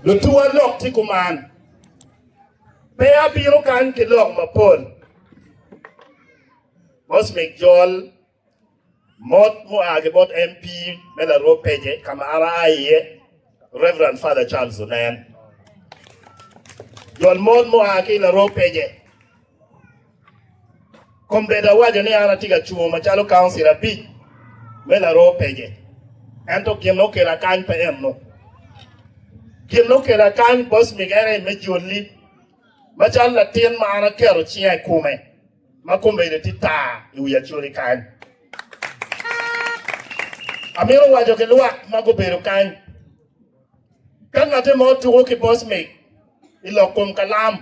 Lutuwa lok ci kuman, pe abino kany ki lok mapol. Bos mig jol mot mua ki bot MP me larwo pece ka ma an aa iye, Reverend Father Charles Onen. Jol mot mua ki larwo pece. Kombeddi awaco ni an atye ka cungo macalo kauncil abic me laroo pece, ento gin ma okela kany pe enno. Gin ma okela kany bos migere me joli macalo latin ma an aketo cinga i kome ma kombeddi tye tar i wi acoli kany. Amito waco ki lwak ma gubedo kany, ka ngate mo tuko ki bos mig i lok kom kalam,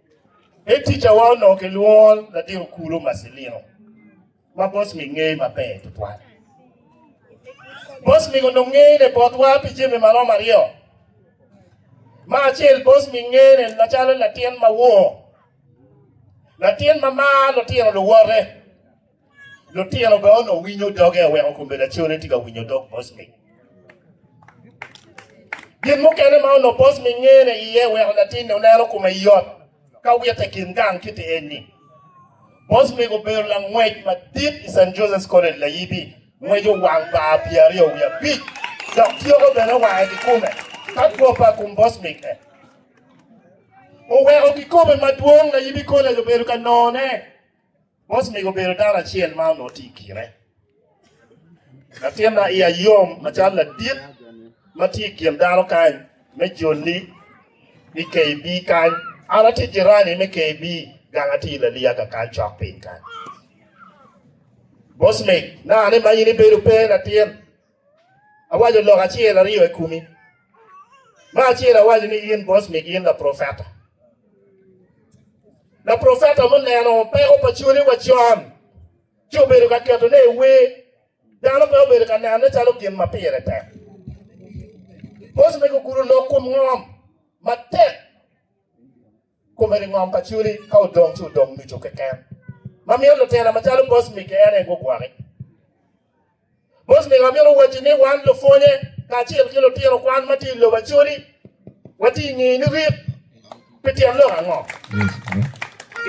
Me ticawa onongo kilwongo latin okulu Marcelino ma Bosmik ngeye maber tutwal. Bosmik onongo ngeye ne botwa pi jami ma romo aryo. Ma acel Bosmik ngeye ne macalo latin ma wor, latin ma mar lutino luwote. Lutino bene onongo winyo doge aweko kome lacone tye ka winyo dog Bosmi. Gin mukene ma onongo Bosmi ngene iye weko latinne oneno kome yot ka wite i kin gang kiti en ni Bosmi obedo langwec madit i St. Joseph's College layibi, ngweco wang bar pyeraryo wiye abic dok tyeko bene wange kikome ka two pa kum Bosmi ke oweko kikome madwong layibi college obedo ka none. Bos omego obedo dano acel ma onongo tye i kine. Latin ma iya yom macalo ladit ma tye i kin dano kany me joli i KB kany. An atye jirani me KB gang atye i Laliyaga kany cok piny kany. Bos meg, naka ni ma in ibedo pe latin. Awaco lok acel aryo i komi. Me acel awaco ni in Bosmik in laprofeta. Laprofeta muneno peko pa cwali wa con ci obedo ka keto ne i wer. Dano pe obedo ka neno ne calo gin ma pire tek. Bosmik ogudo lok kom ngom matek. kome ki ngom pa culi ka odong ci odong nucu keken ma miyo lutela macalo Bosmik-ki en aye gugwoki. Bosmik amito wacci ni wan lupwonye kacel ki lutino kwan ma tye i lobo acoli watye i nge ni rit pi tyen lok ango?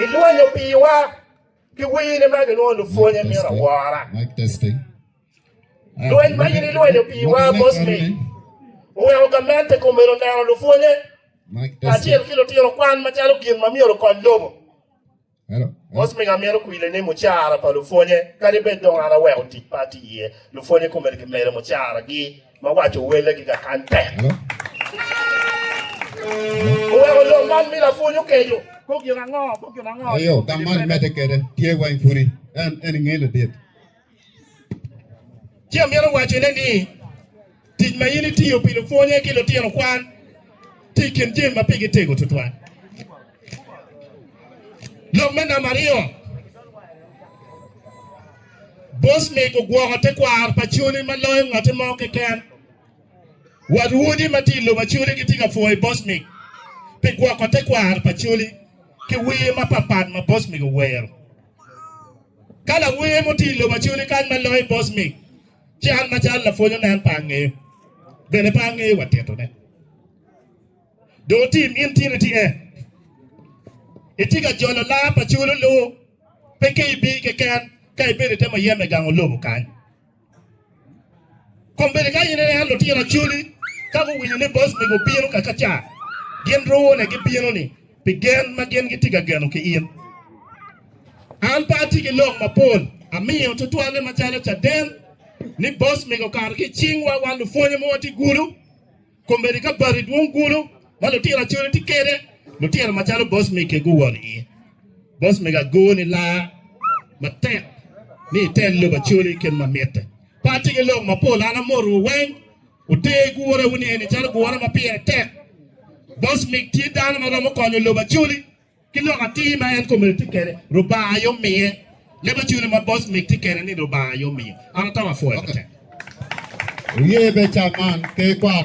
I lwanyo piwa ki wini ma gilwongo lupwonye mito awora. Lweny ma in ilwenyo piwa mos-ni oweko gamente kombeddi oneno lupwonnye kacel ki lutino kwan macalo gin ma myero okony lobo. Mos miyo amito kwile ni mucara pa lupwonnye kadi bed dong an aweko tic pa atye iye, lupwonnye kombeddi gimedo mucaragi ma waco welle giga kany tek. Oweko lok man mi lapwony okeco kong gin ango? Eyo, ka man medde kede tye weng pudi en en nge ladit. Ci amito wacone ni, tic ma in itiyo pi lupwonye ki lutino kwan tye i kin jami ma pigi tego tutwal. Lok me namba aryo, Bosmik ogwoko tekwaro pa Coli ma loyo ngotte mo keken. Wat wodi ma tye i lobo Acoli gitye ka pwoyo Bosmik pi gwoko tekwaro pa Coli ki wer mapatpat ma Bosmik owero. Ka lawer mo tye i lobo acoli kany ma loyo i bos mig, ci an macalo lapwony onen pe angeyo, bene pe angeyo wa titone. Dong otim in tyen iti e. Itye ka jolo lar pa culu lu, pe ki ibi keken ka ibedo ite muyeme gango lobo kany. Kombeddi ka in ineno lutino acoli ka guwinyo ni boss mego obino kakaca, gin rwone gibino ni pi gen ma gin gitye ka geno ki in. An pe atye ki lok mapol amiyo tutwalle macalo caden ni boss mego okato ki i cingwa wan lupwonye ma watye gudo. Komedi ka bati dwong kulu ma lutira acoli tye kede, lutira macalo boss mege guwol iye. Boss mega ago ni laa matek ni iter lobo acoli kit ma mitte. Pa tye ki lok mapol an amoto wu weng oter gure wu ni eni calo gure ma pire tek. Boss meg tye dano ma romo konyo lobo acoli ki lok atir ma en komedi tye kede Rubanga aye omiye. Leb acoli ma boss meg tye kede ni Rubanga aye omiyo. An atamo apwoyo matek. Wuye beca man, Ker Kwar.